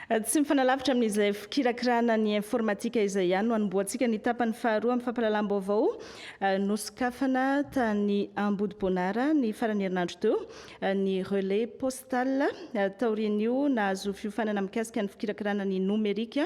Tsy mifanalavitra amin'izay fikirakirana ny informatika izay ihany no anombohantsika ny tapany faharoa amin'ny fampahalalam-baovao eh, nosokafana tany Ambodiboanara ny farany herinandro teo eh, ny relais postal eh, taorian'io nahazo fiofanana mikasika ny fikirakirana ny nomerika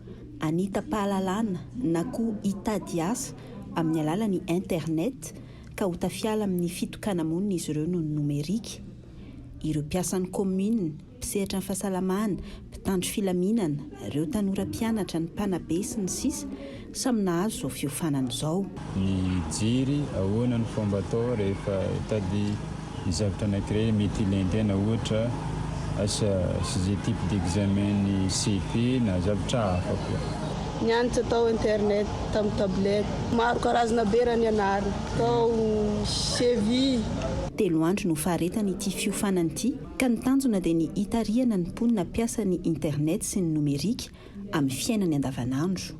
hanitam-pahalalana na koa hitady asa amin'ny alalan'ny Internet ka ho tafiala amin'ny fitokana-monina izy ireo noho ny nomerika. Ireo mpiasan'ny kaominina, mpisehatra ny fahasalamana, mpitandro filaminana, ireo tanora mpianatra, ny mpanabe, sy ny sisa, samy nahazo izao fiofanana izao. Ny jiri, ahoana no fomba atao rehefa hitady ny zavatra anankiray mety ilain'ny tena, ohatra asa sujet type d'examen-n'ny CFE na zavatra hafa koa. Nianatra tao internet tamin'ny tablette. Maro karazana be raha nianarina tao CEVI. Telo andro no faharetan' ity fiofanana ity ka ny tanjona dia ny hitarihana ny mponina mpiasa ny internet sy ny nomerika amin'ny fiainany andavanandro.